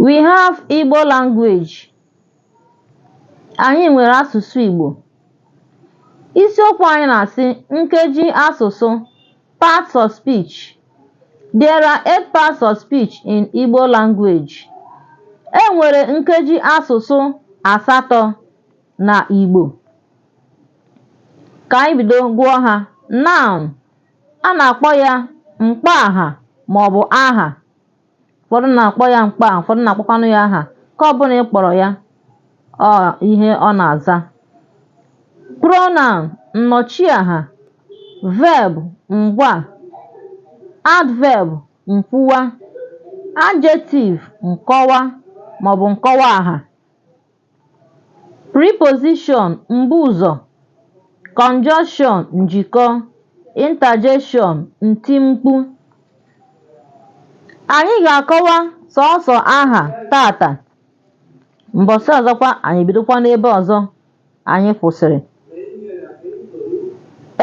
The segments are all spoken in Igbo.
We have Igbo language. Anyị nwere asụsụ Igbo. Isiokwu anyị na-asị nkeji asụsụ parts of speech. There are eight parts of speech in Igbo language. E nwere nkeji asụsụ asatọ na Igbo. Ka anyị bido gụọ ha. Noun, A na-akpọ ya mkpọaha maọbụ aha. Ụfọdụ na-akpọ ya mkpọaha, ụfọdụ na-akpọkwanụ ya aha. Nke ọbụla ị kpọrọ ya, ọ ihe ọ na-aza. Pronoun, nnọchiaha, verb, ngwaa, adverb, nkwuwa, adjective, nkọwa maọbụ nkọwaaha. Preposition mbuụzọ Conjunction njikọ Interjection ntimkpu Anyị ga-akọwa sọọsọ aha tata mbọsị ọzọkwa anyị bidokwa n'ebe ọzọ anyị kwụsịrị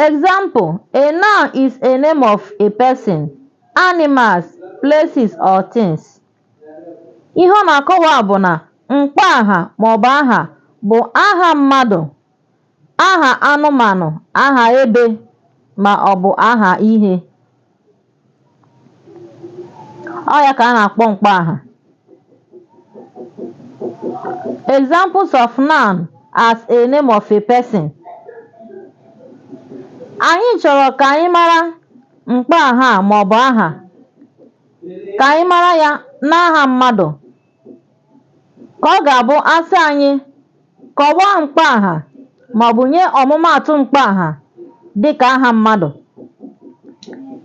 Example, a noun is a name of a person, animals, places or things. ihe ọ na-akọwa bụ na mkpọ aha maọbụ aha bụ aha mmadụ aha anụmanụ aha ebe ma ọ bụ aha ihe ọ ya ka a na-akpọ mkpọ aha examples of noun as a name of a person anyị chọrọ ka anyị mara mkpọ aha maọbụ aha Ka anyị mara ya n'aha mmadụ. Ka ọ ga-abụ a sị anyị kọwaa mkpọaha maọbụ nye ọmụmaatụ mkpọaha dịka aha mmadụ,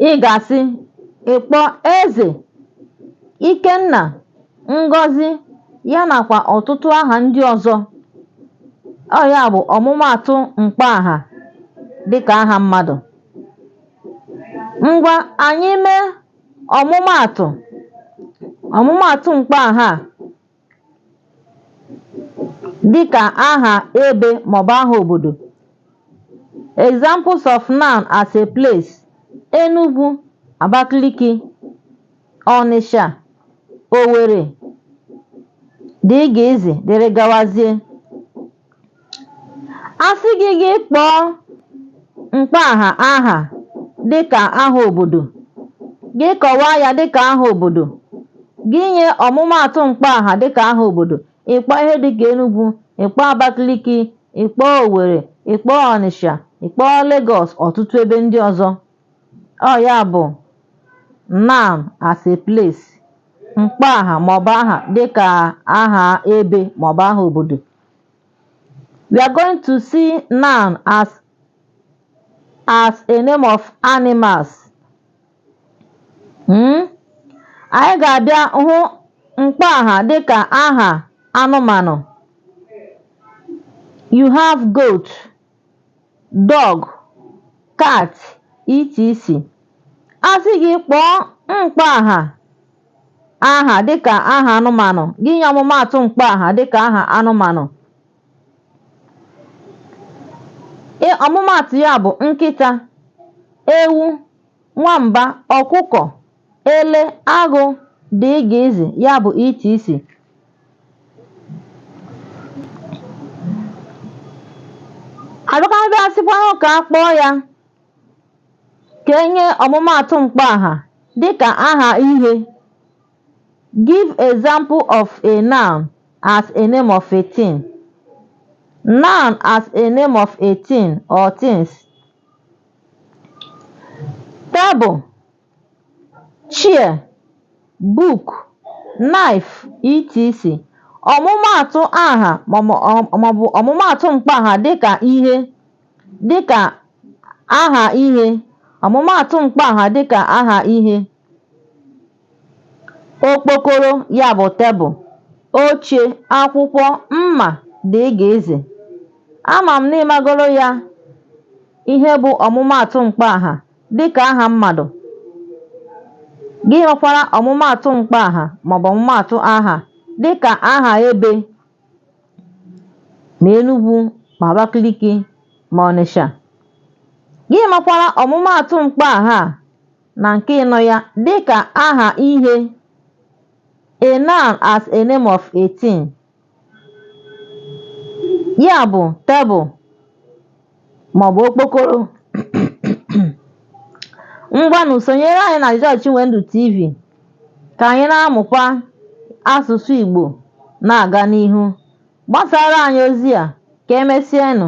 ị ga-asị ị kpọọ Eze, Ikenna, Ngọzi ya nakwa ọtụtụ aha ndị ọzọ. Ọ ya bụ ọmụmaatụ mkpọaha dịka aha mmadụ. Ngwa anyị mee Ọmụmaatụ, Ọmụmaatụ mkpọaha dịka aha ebe maọbụ aha obodo. Examples of noun as a place, Enugu, Abakaliki, Ọnịsha, Owere, dgz, dịrị gawazie. A sị gị gị kpọọ mkpọaha aha dịka aha obodo, gị kọwaa ya dịka aha obodo, gị nye ọmụmaatụ mkpọaha dịka aha obodo, ị kpọọ ihe dịka Enugu, ị kpọọ Abakaliki, ị kpọọ Owerri, ị kpọọ Ọnịsha, ị kpọọ Legọs ọtụtụ ebe ndị ọzọ. Ọ ya bụ noun as a place, mkpọaha maọbụ aha dịka aha ebe maọbụ aha obodo. We are going to see noun as as a name of animals. Hmm? Anyị ga-abịa hụ mkpọaha dịka aha anụmanụ. You have goat. dog, cat, etc. A sị gị kpọọ mkpọaha aha dịka aha anụmanụ, gị nye ọmụmaatụ mkpọaha dịka aha anụmanụ. Ị ọmụmaatụ ya bụ nkịta, ewu, nwamba, ọkụkọ. ele, agụ, dgz ya bụ etc. A bịakwanụ a sịkwanụ ka a kpọọ ya ka e nye ọmụmaatụ mkpọaha dịka aha ihe give example of a noun as a name of a thing noun as a name of a thing or things table chair, book, knife, etc. Ọmụmaatụ aha maọbụ ọmụmaatụ mkpọaha dịka ihe dịka aha ihe ọmụmaatụ mkpọaha dịka aha ihe okpokoro ya bụ tebụl oche akwụkwọ mma dgz ama m na ị magoro ya ihe bụ ọmụmaatụ mkpọaha dị ka aha mmadụ. Gị makwara ọmụmaatụ mkpọaha maọbụ ọmụmaatụ aha dị ka aha ebe ma Enugwu ma Abakaliki ma Ọnịsha. Gị makwara ọmụmaatụ mkpọaha na nke ịnọ ya dị ka aha ihe, a noun as a name of a thing. ya bụ tebụl maọbụ okpokoro ngwanụ sonyere anyị na George Chinwendu TV ka anyị na-amụkwa asụsụ Igbo na-aga n'ihu gbasara anyị ozi a ka emesienụ